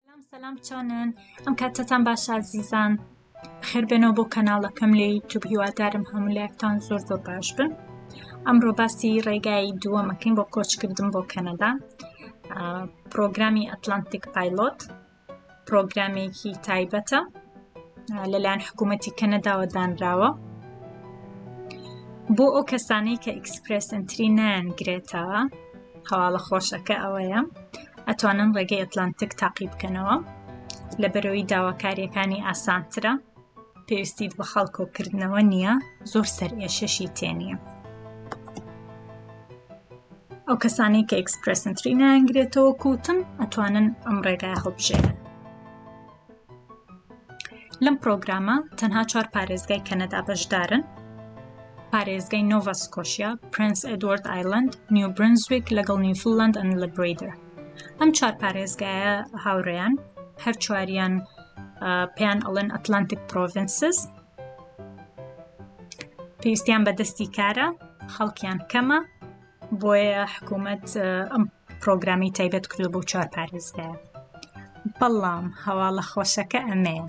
سلام سلام چۆنن ئەم کاتتان باش ئازیزان خێر بێنەوە بۆ کەناڵەکەم لە یوتوب هیوادارم هەموو لایەکتان زۆر زۆر باش بن ئەمڕۆ باسی ڕێگای دووەمەکەین بۆ کۆچکردن بۆ کەنەدا پرۆگرامی ئەتلانتیک پایلۆت پرۆگرامێکی تایبەتە لەلایەن حکوومەتی کەنەداوە دانراوە بۆ ئەو کەسانەی کە ئیکسپرسنتری نان گرێتەوە هەواڵە خۆشەکە ئەوەیە ئەتوانن ڕێگەی ئەتلانتک تاقی بکەنەوە لە بەرەوەی داواکاریەکانی ئاسانترە پێویستیت بە خەڵکۆکردنەوە نییە زۆر سەر ئێشەشی تێنیە ئەو کەسانی کە ئەکسپرسنتری نانگرێتەوە کوتم ئەتوانن ئەم ڕێگای هەڵبژێنن لەم پرۆگرامە تەنها چوار پارێزگای کەنەدا بەشدارن پارێزگای نۆڤا سکۆشیا پرنس ئەدوارد ئایلند نیو برنزویک لەگەڵ نیوفلند ئەن لە بریدر ئەم چوار پارێزگایە هاوڕێیان هەر چواریان پێیان ئەڵێن ئەتلانتیک پرۆڤنسز پێویستیان بە دەستی کارە خەڵکیان کەمە بۆیە حکوومەت ئەم پرۆگرامی تایبەت کردو بۆ چوار پارێزگا بەڵام هەواڵە خۆشەکە ئەمەیە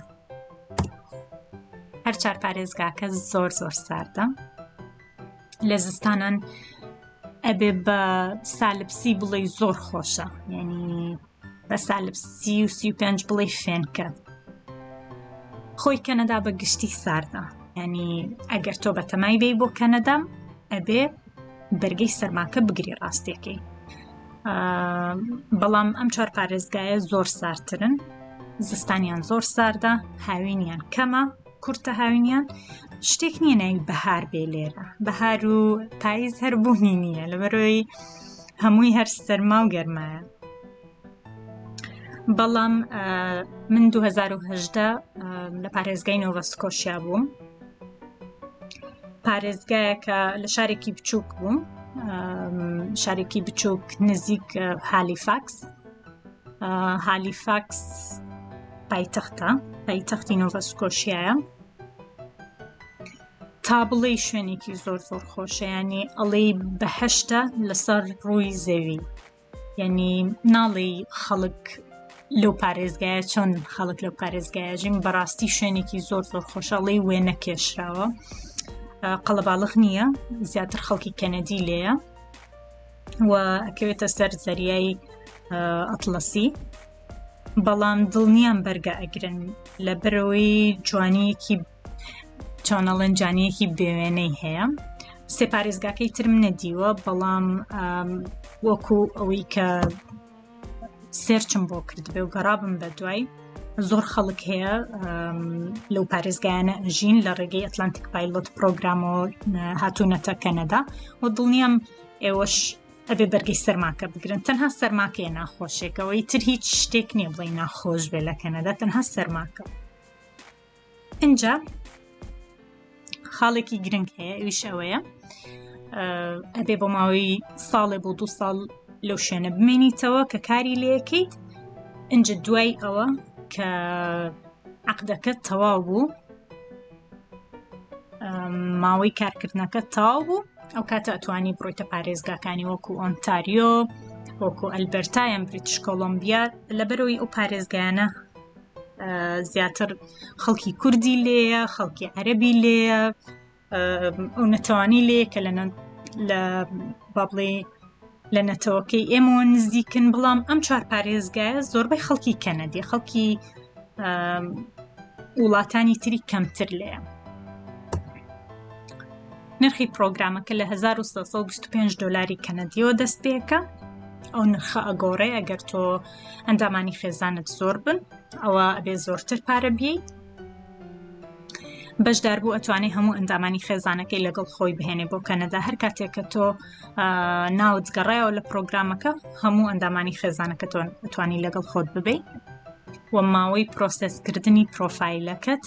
هەر چار پارێزگاکە زۆر زۆر ساردە لە زستانان ئەبێ بە سالبسی بڵێ زۆر خۆشە یعنی بە سالب سی و سی و پێنج بڵێ فێنکە خۆی کەنەدا بە گشتی ساردە ینی ئەگەر تۆ بە تەمای بی بۆ کەنەدام ئەبێ بەرگەی سەرماکە بگری ڕاستەکەی بەڵام ئەم چوار پارێزگایە زۆر سارترن زستانیان زۆر ساردە هاوینیان کەمە کورتە هاوینیان شتێک نییە ناوی بەهار بێ لێرە بەهار و پاییز هەر بوونی نییە لە بەرۆی هەمووی هەر سەرما و گەرمایە بەڵام من 2010 لە پارێزگای نۆڤە سکۆشیا بووم پارێزگایەکە لە شارێکی بچووک بووم شارێکی بچووک نزیک هالیفاکس هالیفاکس پایتەختە پایتەختی نۆڤە سکۆشیایە تا بڵێ شوێنێکی زۆر زۆر خۆشەیانی ئەڵێ بەهشتە لەسەر ڕووی زەوی یعنی ناڵێ خەڵک لەو پارێزگایە چۆن خەڵک لەو پارێزگایژیم بەڕاستی شوێنێکی زۆر زۆر خۆشەڵی وێ نەکێشراوە قەڵەباڵخ نییە زیاتر خەڵکی کەنەدی لێە و ئەکەوێتە سەر زەریای ئەتلەسی بەڵام دڵنیام بەرگە ئەگرن لە بەرەوەی جوانیەکی چۆنەڵەن جانیەکی بێوێنەی هەیە سێپارێزگاکەی ترم نەدیوە بەڵام وەکو ئەوەی کە سێرچم بۆ کردبێ و گەڕابم بە دوای زۆر خەڵک هەیە لەو پارێزگایانە ژین لە ڕێگەی ئەتلانتیک پایلۆت پرۆگرامەوە هاتوونەتە کەنەدا و دڵنیام ئێوەش ئەبێ بەرگی سەرماکە بگرن تەنها سەرماکەیە ناخۆشێکەوەی تر هیچ شتێک نییە بڵێ ناخۆش بێ لە کەنەدا تەنها سەرماکە اینجا خاڵێکی گرنگ هەیە ئەویش ئەوەیە ئەبێ بۆ ماوەی ساڵێ بۆ دو ساڵ لەو شوێنە بمێنیتەوە کە کاری لەکەیت ئەجا دوای ئەوە کە عقدەکە تەواو بوو ماوەی کارکردنەکە تاو بوو ئەو کاتە ئەتوانی بڕۆیتە پارێزگاکانی وەکو ئۆنتاریۆ وەکو ئەلبەرتایان بریتش کۆلمبیا لەبەرەوەی ئەو پارێزگایانە زیاتر خەڵکی کوردی لێە خەڵکی عەربی لێە ئەو نەتەوانی لێ کە لە لە بابڵێ لە نەتەوەکەی ئێمەوە نزیکن بڵام ئەم چوار پارێزگایە زۆربەی خەڵکی کەنەدی خەڵکی وڵاتانی تری کەمتر لێە نرخی پرۆگرامەکە لە 1925 دلاری کەنەدیەوە دەست پێەکە ئەو نرخە ئەگۆڕێ ئەگەر تۆ ئەندامانی خێزانت زۆر بن ئەوە ئەبێ زۆرتر پارە بی بەشدار بوو ئەتوانێت هەموو ئەندامانی خێزانەکەی لەگەڵ خۆی بهێنێ بۆ کەنەدا هەر کاتێکە تۆ ناوت گەڕایەوە لە پرۆگرامەکە هەموو ئەندامانی خێزانەکە توانی لەگەڵ خۆت ببی و ماوەی پرۆسسکردنی پرۆفایلەکەت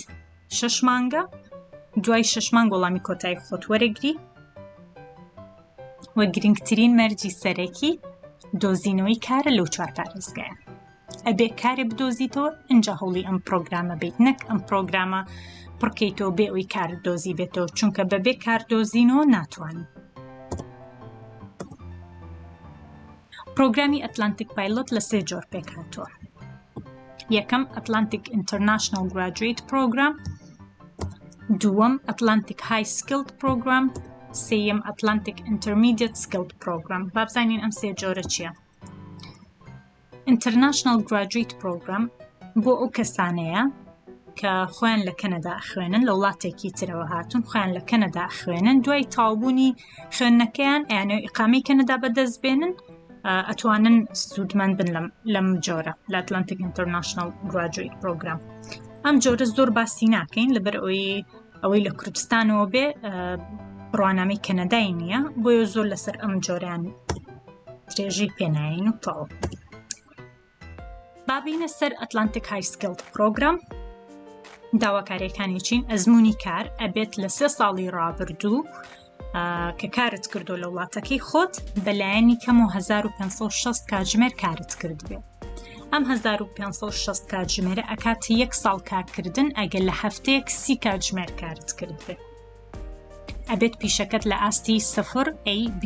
شش مانگە دوای شش مانگ وەڵامی کۆتایی خۆت وەرەگری و گرنگترین مەرجی سەرەکی دۆزینەوەی کارە لەو چوار پارێزگایە ئەبێ کارێ بدۆزیتەوە ئەجا هەوڵی ئەم پرۆگرامە بیت نەک ئەم پرۆگرامە پڕکەیتەوە بێ ئەوی کار دۆزی بێتەوە چونکە بەبێ کار دۆزینەوە ناتوانین پرۆگرامی ئەتلانتیک پایلۆت لە سێ جۆر پێکهاتووە یەکەم ئەتلانتیک ئینتەرنشنل گراجویت پرۆگرام دووەم ئەتلانتیک های سکلد پرۆگرام سیم ئەتلانتیک ئینتەرمیدیت سکلد پرۆگرام بابزانین ئەم سێ جۆرە چییە ئینتەرناشناڵ گراجویت پرۆگرام بۆ ئەو کەسانەیە کە خۆیان لە کەنەدا خوێنن لە وڵاتێکی ترەوە هاتون خۆیان لە کەنەدا خوێنن دوای تاوبوونی خوێندنەکەیان ئەیانێ ئیقامی کەنەدا بەدەست بێنن ئەتوانن سوودمەند بن لەم لەم جۆرە لە ئەتلانتیک ئینتەرناشنل گراجویت پرۆگرام ئەم جۆرە زۆر باسی ناکەین لەبەر ئەوی ئەوەی لە کوردستانەوە بێ بڕوانامەی کەنەدای نییە بۆیە زۆر لەسەر ئەم جۆریان درێژەی پێناین و تەڵ بابینە سەر ئەتلانتیک هایسکلد پرۆگرام داواکاریەکانی چین ئەزمموی کار ئەبێت لە سێ ساڵی ڕابردوو کە کارت کردو لە وڵاتەکەی خۆت بەلایەنی کەم و 1560 کاتژمێر کارت کردبێت ئەم 1560 کاتژمێرە ئەکات یەک ساڵ کارکردن ئەگەر لە هەفتەیەک سی کاتژمێر کارت کردبێت ئەبێت پیشەکەت لە ئاستی سفر AB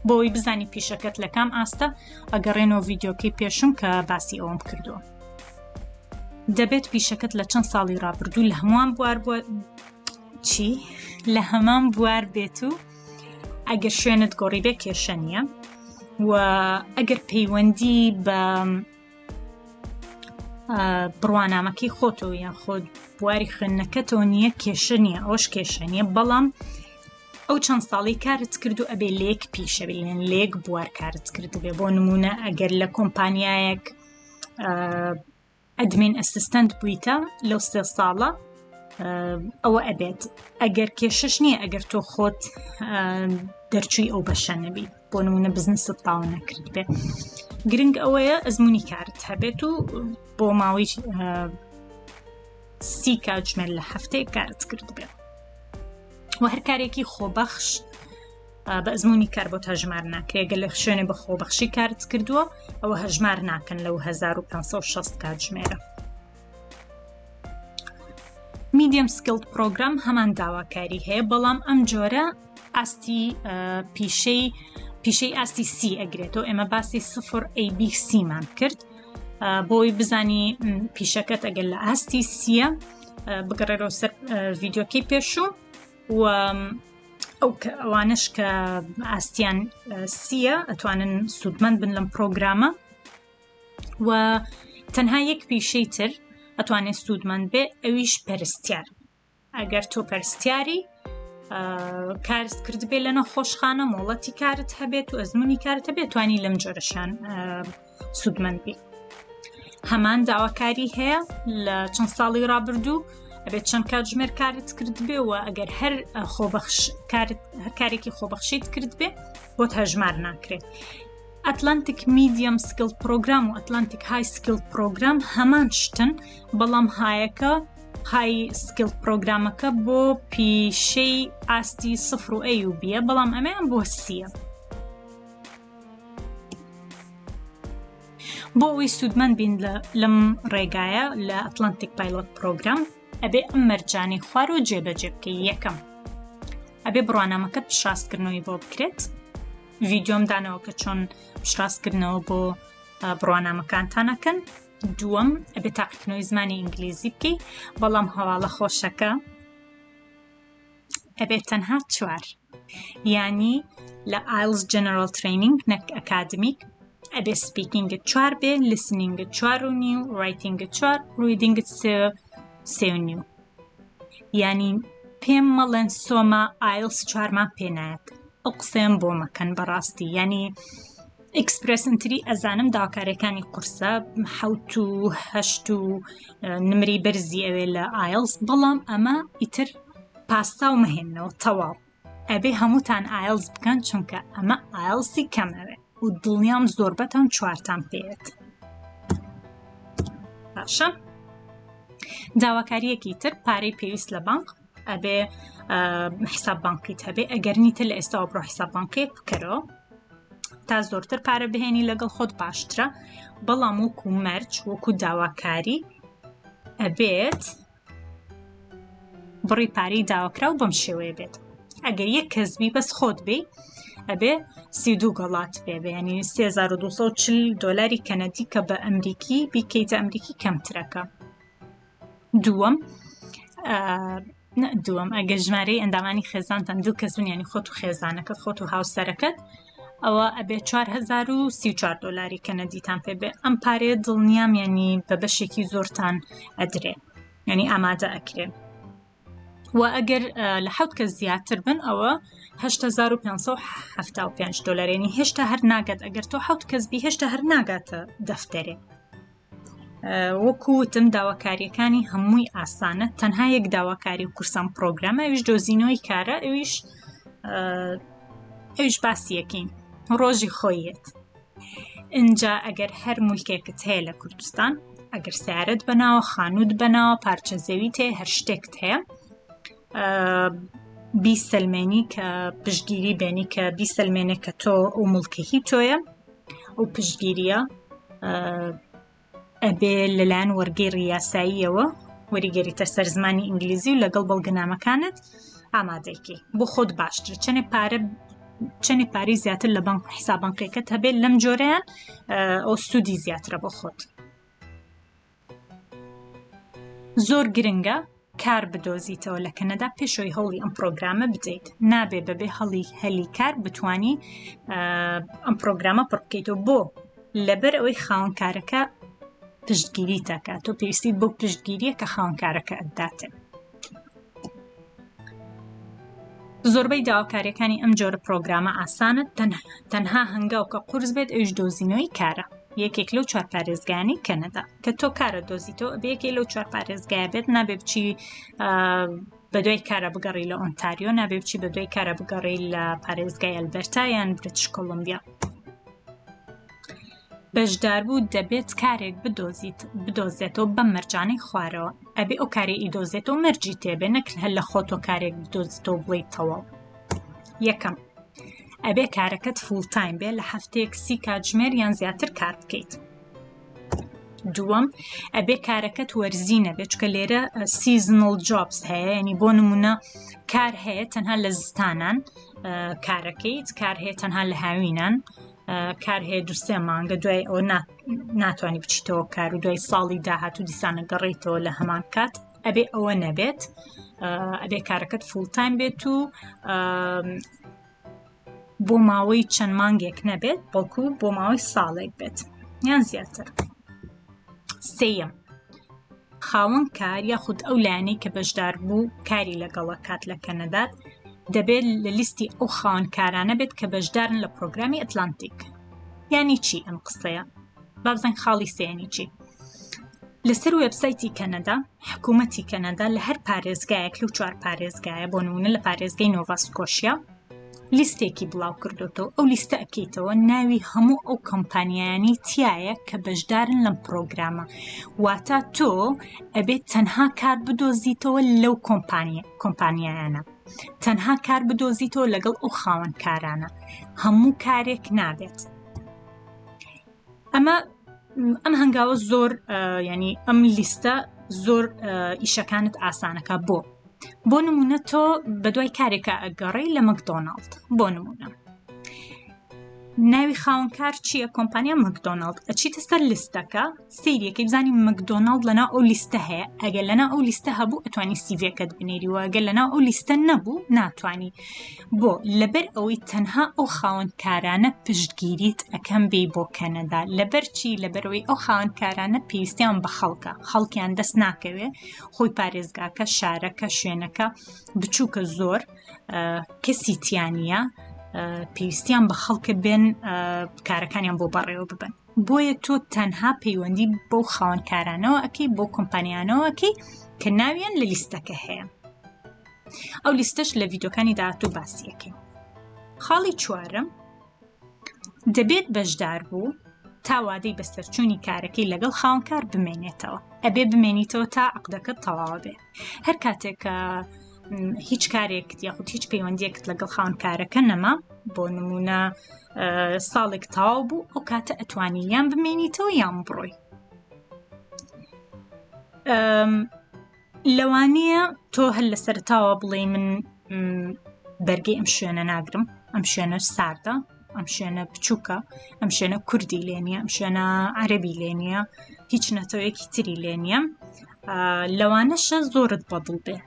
بۆی بزانی پیشەکەت لە کام ئاستە ئەگەڕێنەوە ڤیددیوکەی پێشم کە باسی ئەوم کردووە دەبێت پیشەکەت لە چەند ساڵی ڕابردوو لە هەمووان بوار بووە چی لە هەمان بوار بێت و ئەگەر شوێنت گۆڕی بێ کێشە نییە و ئەگەر پەیوەندی بە بڕوانامەکەی خۆتەوە یان خۆت بواری خوێندنەکەتەوە نییە کێشە نییە ئەوش کێشە نییە بەڵام ئەو چەند ساڵی کارت کرد و ئەبێ لێک پیشەبێن لێک بوار کارت کردبێ بۆ نمونە ئەگەر لە کۆمپانیایەک ئەدمین ئەسیستەنت بوویتە لەو سێ ساڵە ئەوە ئەبێت ئەگەر کێشش نییە ئەگەر تۆ خۆت دەرچووی ئەو بەشە نەبیت بۆ نمونە بزنست تاون نەکرد بێت گرنگ ئەوەیە ئەزمموی کارت هەبێت و بۆ ماوەی سی کاتژمێر لە هەفتەیە کارت کرد بێت و هەر کارێکی خۆبەخش بە ئەزمموی کار بۆ تا ژمار ناکرێگە لە شوێنێ بە خۆبەخشی کارت کردووە ئەوە هەژمار ناکەن لەو 1560 کاتژمێرە میدیم سکلت پرۆگرام هەمان داواکاری هەیە بەڵام ئەم جۆرە ئاستی پیشەی پیشەی ئاستی سی ئەگرێتەوە ئێمە باسی سفر AB سیمان کرد بۆی بزانی پیشەکەت ئەگەر لە ئاستی سیە بگەڕێرەوە سەر ڤیددیوکەی پێشوو و ئەو ئەوانش کە ئاستیان سیە ئەتوانن سوودمەند بن لەم پرۆگرامە و تەنها یەک پیشەی تر ئەتوانێت سوودمەند بێ ئەویش پەرستیار ئەگەر تۆ پەرستیاری کارست کردبێ لە نەخۆشخانە مۆڵەتی کارت هەبێت و ئەزمموی کارت هەبێت توانی لەم جۆرەشان سوودمەند بێت هەمان داواکاری هەیە لە چەند ساڵی رابردوو ئەبێت چەند کات ژمێر کارت کردبێەوە ئەگەر هەر خۆبەخش هەر کارێکی خۆبەخشیت کردبێ بۆت هەژمار ناکرێت ئەتلانتیک میدیەم سکل پرۆگرام و ئەتلانتیک های سکل پرۆگرام هەمان شتن بەڵام هایەکە پای سکیڵ پرۆگرامەکە بۆ پیشەی ئاستی سفر و ئەی و بیە بەڵام ئەمەیان بۆ سیە بۆ ئەوی سوودمەند بین لەم ڕێگایە لە ئەتلانتیک پایلۆت پرۆگرام ئەبێ ئەم مەرجانی خوار و جێبەجێ بکەی یەکەم ئەبێ بڕوانامەکە پشاستکردنەوەی بۆ بکرێت ڤیددیۆم دانەوە کە چۆن پشاستکردنەوە بۆ بڕوانامەکانتانەکەن دووەم ئەبێ تاقیکردنەوەی زمانی ئینگلیزی بکەی بەڵام هەواڵە خۆشەکە ئەبێت تەنها چوار ینی لە ئایلز جەنەرال ترینینگ نەک ئەکادمیک ئەبێ سپیکینگە چوار بێ لسنینگە چوار و نیو ڕایتینگە چوار ڕیدینگە سێ و نیو ینی پێم مەڵێن سۆما ئایلس چوارمان پێنایەت ئەو قسەیان بۆ مەکەن بەڕاستی ینی ئیکسپرسنتری ئەزانم داکارەکانی قورسە حوت و هەشت و نمری بەرزی ئەوێ لە ئایلس بەڵام ئەمە ئیتر پاستا و مەهێنەوە تەواو ئەبێ هەمووتان ئایلس بکەن چونکە ئەمە ئایلسی کەمەوێ و دڵنیام زۆربەتان چوارتان پێێت باشە داواکاریەکی تر پارەی پێویست لە بانک ئەبێ حساب بانکیت هەبێ ئەگەرنی تر لە ئێستا بڕۆ حساب بانکێک بکەرەوە تا زۆرتر پارە بهێنی لەگەڵ خۆت باشترە بەڵام وەکو مەرج وەکو داواکاری ئەبێت بڕی پارەی داواکراو بەم شێوەیە بێت ئەگەر یەک کەسبی بەس خۆت بی ئەبێ سی دوو گەڵات پێ بەیانی 3240 دلاری کەنەدی کە بە ئەمریکی بیکەیتە ئەمریکی کەمترەکە دووەم دووەم ئەگەر ژمارەی ئەندامانی خێزانتان دوو کەس بنیانی خۆت و خێزانەکەت خۆت و هاوسەرەکەت ئەوە ئەبێ 4034 دلاری کەنەدیتان پێ بێ ئەم پارێ دڵنیام ینی بە بەشێکی زۆرتان ئەدرێ ینی ئامادە ئەکرێ و ئەگەر لە حوت کە زیاتر بن ئەوە 1575 دلارێنی هێشتا هەر ناگات ئەگەر تۆ حوت کەس بی هێشتا هەر ناگاتە دەفتەرێ وەکو وتم داواکاریەکانی هەمووی ئاسانە تەنها یەک داواکاری و قورسان پرۆگرامە ئەوش دۆزینەوەی کارە ئەوش ئەوش باسیەکەین ڕۆژی خۆیەت اینجا ئەگەر هەر مولکێکت هەیە لە کوردستان ئەگەر سیارەت بەناوە خانوت بەناوە پارچە زەوی تێ هەر شتێکت هەیە بیسەلمێنی کە پشگیری بێنی کە بیسەلمێنێ کە تۆ و ملکەهی تۆیە ئەو پشتگیریە ئەبێ لەلایەن وەرگی ڕاستاییەوە وەریگەریتە سەر زمانی ئینگلیزی و لەگەڵ بەڵگەنامەکانت ئامادەکی بۆ خۆت باشتر چەنێ پارە چەنێ پارەی زیاتر لە بەنک حسابانقیەکەت هەبێت لەم جۆرەیان ئەو سوودی زیاترە بۆ خۆت زۆر گرنگە کار بدۆزیتەوە لە کەنەدا پێشەوەی هەوڵی ئەم پرۆگرامە بدەیت نابێ بەبێ هەڵی هەلی کار بتانی ئەم پرۆگرامە پڕ بکەیتەوە بۆ لەبەر ئەوەی خاونکارەکە پشتگیری تاکات تۆ پێویستی بۆ پشتگیریە کە خاونکارەکە ئەداتێ زۆربەی داواکاریەکانی ئەم جۆرە پرۆگرامە ئاسانە تەنها هەنگاو کە قورس بێت ئەویش دۆزینەوەی کارە یەکێک لەو چوار پارێزگانی کەنەدا کە تۆ کارە دۆزیتەوە بەیەکێ لەو چوار پارێزگای بێت نابێ بچی بە دوای کارە بگەڕی لە ئۆنتاریۆ نابێ بچی بە دوای کارە بگەڕی لە پارێزگای ئەلبەرتا یان برتش کۆلمبیا بەژداربوو دەبێت کارێک بدۆزیت بدۆزێتەوە بەم مەرجانەی خوارەوە ئەبێ ئەو کارێ ئیدۆزێتەوە مەرجی تێبێ نەکرد هەر لە خۆتۆ کارێک بدۆزیتەوە بڵیت تەواو یەکەم ئەبێ کارەکەت فول تایم بێ لە هەفتەیەک سی کاتژمێر یان زیاتر کار بکەیت دووەم ئەبێ کارەکەت وەرزی نەبێت چکە لێرە سیزنل جۆبس هەیە ینی بۆ نمونە کار هەیە تەنها لە زستانان کارەکەیت کار هەیە تەنها لە هاوینان کار هەیە دو سێ مانگە دوای ئەوە ناتوانانی بچیتەوە کار و دوای ساڵی داهاتوو دیسانە گەڕیتەوە لە هەمان کات ئەبێ ئەوە نەبێت ئەبێ کارەکەت فولتان بێت و بۆ ماوەی چەند مانگێک نەبێت بەڵکو بۆ ماوەی ساڵێک بێت یان زیاتر سم خاوەن کار یاخود ئەو لایەنەی کە بەشدار بوو کاری لەگەڵە کات لە کەنەدات دەبێت لە لیستی ئەو خاوەن کارانە بێت کە بەشدارن لە پرۆگرامی ئەتلانتیک یانی چی ئەم قسەیە بابزانین خاڵی سێنی چی لەسەر وبسایتی کەنەدا حکوومەتی کەنەدا لە هەر پارێزگایەک لەو چوار پارێزگایە بۆ نمونە لە پارێزگەی نۆڤاسکۆشیا لیستێکی بڵاو کردۆتەوە ئەو لیستە ئەکەیتەوە ناوی هەموو ئەو کەمپانیانی تایە کە بەشدارن لەم پرۆگرامە واتا تۆ ئەبێت تەنها کار بدۆزیتەوە لەو کۆمپانیە کۆمپانیایانە تەنها کار بدۆزیتەوە لەگەڵ ئەو خاوەنکارانە هەموو کارێک نابێت ئەمە ئەم هەنگاوە زۆر ینی ئەم لیستە زۆر ئیشەکانت ئاسانەکە بۆ بۆ نمونە تۆ بە دوای کارێکە ئەگەڕی لە مەکدۆناڵد بۆ نمونە ناوی خاونکار چییە کۆمپانیا مەکدۆناڵد ئەچیتە سەر لیستەکە سیرەکەی بزانانی مەکدۆناڵد لەنا ئەو لیستە هەیە ئەگەر لەنا ئەو لیستە هەبوو ئەتوانی سیڤەکەت بنێری وەگەر لەنا ئەو لیستە نەبوو ناتانی بۆ؟ لەبەر ئەوەی تەنها ئەو خاوەن کارانە پشتگیریت ئەکەم بێی بۆ کەنەدا لەبەر چی لەبەرەوەی ئەو خاوەن کارانە پێویستیان بە خەڵکە خەڵکیان دەست ناکەوێ خۆی پارێزگاکە شارەکە شوێنەکە بچووکە زۆر کەسی تیانە پێویستیان بە خەڵکە بێن کارەکانیان بۆ بەڕێوە ببن بۆیە تۆ تەنها پەیوەندی بەو خاوەنکارانەوە ئەەکەی بۆ کۆمپانیانەوەکەی کە ناویان لە لیستەکە هەیە ئەو لیستەش لە ڤیدۆکانی داهاتوو باسیەکەین خاڵی چوارم دەبێت بەشدار بوو تا وادەی بەسەرچوونی کارەکەی لەگەڵ خاونکار بمێنێتەوە ئەبێ بمێنیتەوە تا عقدەکە تەواوە بێ هەر کاتێک کە هیچ کارێک یاخود هیچ پەیوەندیەکت لەگەڵ خاونکارەکە نەما بۆ نمونە ساڵێک تاو بوو ئەو کاتە ئەتوانی یان بمێنیتەوە یان بڕۆی لەوانیە تۆ هەر لە سەرتاوە بڵێ من بەرگی ئەم شوێنە ناگرم ئەم شوێنە ساردە ئەم شوێنە بچووکە ئەم شوێنە کوردی لێ نیە ئەم شوێنە عەربی لێ نیە هیچ نەتەوەیەکی تری لێ نیە لەوانەشە زۆرت بەدڵ بێ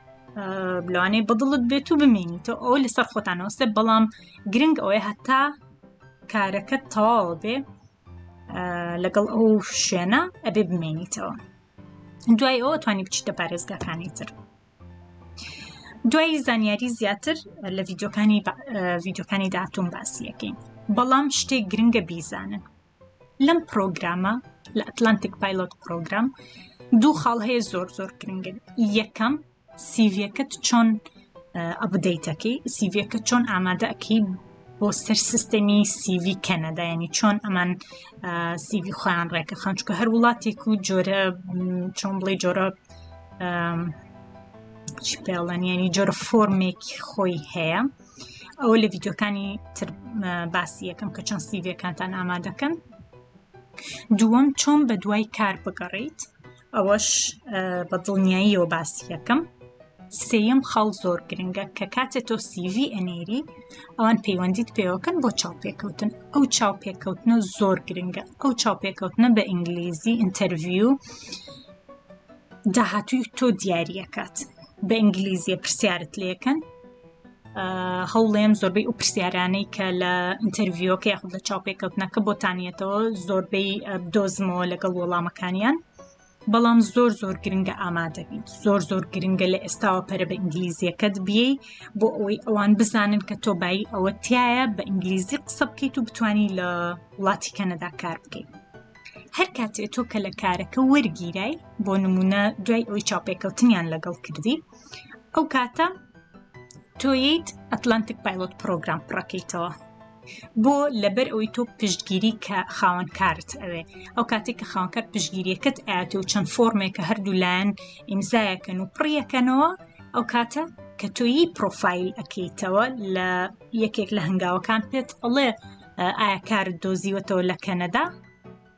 لەوانەیە بەدڵت بێت و بمێنی تۆ ئەو لەسەر خۆتانەوەستە بەڵام گرنگ ئەوەیە هەتا کارەکە تەواو بێ لەگەڵ ئەو شوێنە ئەبێ بمێنیتەوە دوای ئەوە توانی بچیتە پارێزگاکانی تر دوای زانیاری زیاتر لە ڤیددیوکانی ڤیددیوکانی داهاتون باسیەکەین بەڵام شتێک گرنگە بیزانن لەم پرۆگرامە لە ئەتلانتیک پایلۆت پرۆگرام دوو خاڵ هەیە زۆر زۆر گرنگن یەکەم سیڤیەکەت چۆن ئەبدەیتەکەی سیڤەکە چۆن ئامادەکەی بۆ سەر سیستەمی سیڤی کەنەدا ینی چۆن ئەمان سیڤی خۆیان ڕێکە خانچکە هەر وڵاتێک و جۆرە چۆن بڵێ جۆرە چی پێڵەن ینی جۆرە فۆرمێکی خۆی هەیە ئەوە لە ڤیددیوکانی تر باسی یەکەم کە چەند سیڤەکانتان ئامادەکەن دووەم چۆن بە دوای کار بگەڕیت ئەوەش بە دڵنیاییەوە باسی یەکەم سێیەم خاڵ زۆر گرنگە کە کاتێ تۆ سیڤی ئەنێری ئەوان پەیوەندیت پێوەکەن بۆ چاوپێکەوتن ئەو چاوپێکەوتنە زۆر گرنگە ئەو چاوپێکەوتنە بە ئینگلیزی ئینتەرڤیو داهاتووی تۆ دیارریەکات بە ئینگلیزیە پرسیارت لەکەن هەوڵێم زۆربەی ئەو پرسیارانەی کە لە ئینتەرڤیوەکە یاخود لە چاوپێکەوتنەکە بۆتانیەتەوە زۆربەی دۆزمەوە لەگەڵ وەڵامەکانیان بەڵام زۆر زۆر گرنگە ئامادەبیت زۆر زۆر گرنگە لە ئێستاوە پەرە بە ئینگلیزیەکەت بیەی بۆ ئەوەی ئەوان بزانن کە تۆ بای ئەوە تایە بە ئینگلیزی قسە بکەیت و بتانی لە وڵاتی کەنەدا کار بکەیت هەر کاتێ تۆ کە لە کارەکە وەرگیرای بۆ نمونە دوای ئەوی چاپێکەوتنیان لەگەڵ کردی ئەو کاتە تۆیت ئەتلانتیک پایلۆت پرۆگرام پڕەکەیتەوە بۆ لەبەر ئەوی تۆ پشتگیری کە خاوەنکارت ئەوێ ئەو کاتێک کە خاوەنکار پشتگیریەکەت ئاتی و چەند فۆرمێک کە هەردوو لایەن ئیمزایەکەن و پڕیەکەنەوە ئەو کاتە کە تۆیی پرۆفایل ئەەکەیتەوە لە یەکێک لە هەنگاوەکان پێت ئەڵێ ئایا کارت دۆزیوەتەوە لە کەنەدا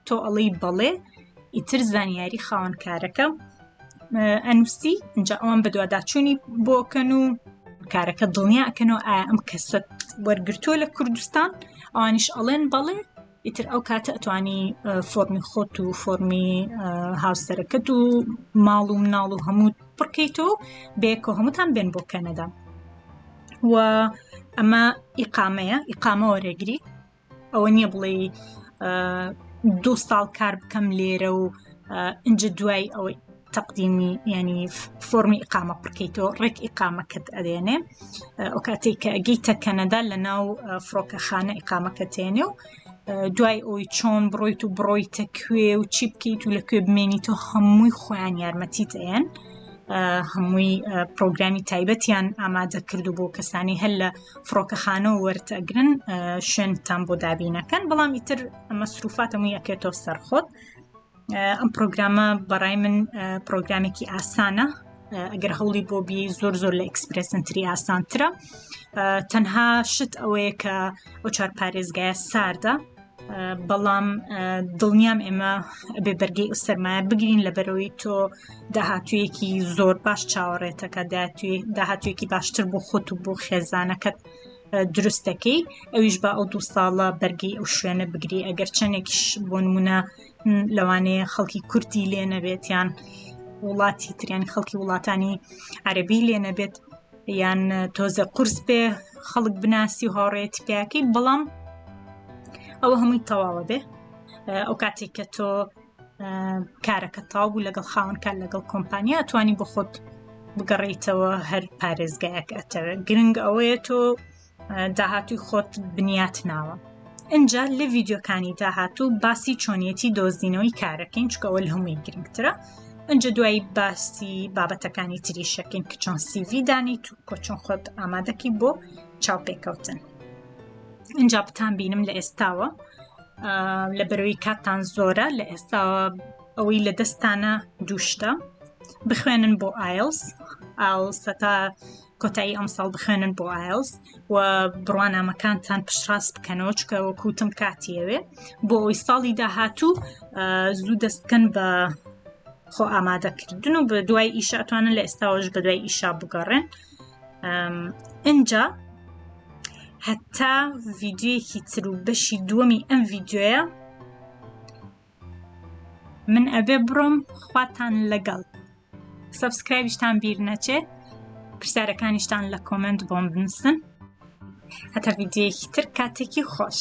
تۆ ئەڵی بەڵێ ئیتر زانیاری خاوەنکارەکە ئەنووسی اینجا ئەوان بەدوواداچوونی بۆکەن و کارەکە دڵنیاکەنەوە ئایا ئەم کەسە وەرگتووە لە کوردستان ئەوانیش ئەڵێن بەڵێ ئیتر ئەو کاتە ئەتوانی فۆرمی خۆت و فۆرمی هاوسەرەکەت و ماڵ و مناڵ و هەموو پڕکەیتەوە بێکۆ هەمووتان بێن بۆ کەنەدا و ئەمە ئیقامەیە ئیقامە وەرەگری ئەوە نییە بڵێ دوو ساڵ کار بکەم لێرە و ئەج دوای ئەوەی تەقدیمی ینی فۆمی ئقامە پڕکەیتەوە ڕێک ئقامەکەت ئەدێنێ ئەو کاتێک کە ئەگەیتە کەنەدا لە ناو فڕۆکەخانە ئقامەکە تێنێ و دوای ئەوی چۆن بڕۆیت و بڕۆیتە کوێ و چی بکەیت و لە کوێ بمێنیت و هەمووی خۆیان یارمەتیت ئەیەن هەمووی پرۆگرامی تایبەتیان ئامادە کرد و بۆ کەسانی هەر لە فڕۆکەخانە و وەرتەگرن شوێنتان بۆ دابینەکەن بەڵام ئیتر ئەمە سروفاتەمو یەکێتۆ سەرخۆت ئەم پرۆگرامە بەڕای من پرۆگرامێکی ئاسانە ئەگەر هەوڵی بۆ بی زۆر زۆر لە ئەکسپرسنتری ئاسانترە تەنها شت ئەوەیە کە ئەو چار پارێزگایە ساردە بەڵام دڵنیام ئێمە بێ بەرگی ئوسەرمایە بگرین لە بەرەوەی تۆ داهاتوویەکی زۆر باش چاوەڕێتەکە داهاتوویەکی باشتر بۆ خۆت و بۆ خێزانەکەت دروست دەکەی ئەویش بە ئەو دوو ساڵە بەرگی ئەو شوێنە بگری ئەگەر چەندێکیش بۆ نمونە لەوانەیە خەڵکی کورتی لێ نەبێتیان وڵاتی تریان خەڵکی وڵاتانی عەربی لێ نەبێت یان تۆزە قورس بێ خەڵک بناسی و هاوڕێت پیاکەی بەڵام ئەوە هەمووی تەواوە بێ ئەو کاتێک کە تۆ کارەکە تاو بوو لەگەڵ خاونکان لەگەڵ کۆمپانیا توانی بۆ خۆت بگەڕیتەوە هەر پارێزگایەک ئەتەوێت گرنگ ئەوەیە تۆ داهاتووی خۆت بنیات ناوە ئینجا لە ڤیددیوکانی داهاتوو باسی چۆنیەتی دۆزینەوەی کارەکەین چکەوە لە هەمووی گرنگترە ئەجا دوایی باسی بابەتەکانی تری شەکەین کە چۆن سیڤی دانیت و کۆ چۆن خۆت ئامادەکی بۆ چاوپێکەوتن ئینجا بتان بینم لە ئێستاوە لە بەرەوەی کاتان زۆرە لە ئێستاوە ئەوەی لە دەستانە دووشتە بخوێنن بۆ ئایلس ئاڵسەتا کۆتایی ئەمساڵ بخوێنن بۆ ئایلس و بڕوانامەکانتان پشتڕاست بکەنەوە چکە وەکوتم کاتیەوێ بۆ ئەوی ساڵی داهاتوو زوو دەست بکەن بە خۆ ئامادەکردن و بە دوای ئیشە ئەتوانن لە ئێستاوەش بە دوای ئیشا بگەڕێن ئەجا هەتا ڤیددیوەکی تر و بەشی دووەمی ئەم ڤیددیوە من ئەبێ بڕۆم خواتان لەگەڵ سبسکرایبیشتان بیر نەچێ پرسیارەکانیشتان لە کۆمنت بۆم بنووسن هەتا ویددیوەیەکی تر کاتێکی خۆش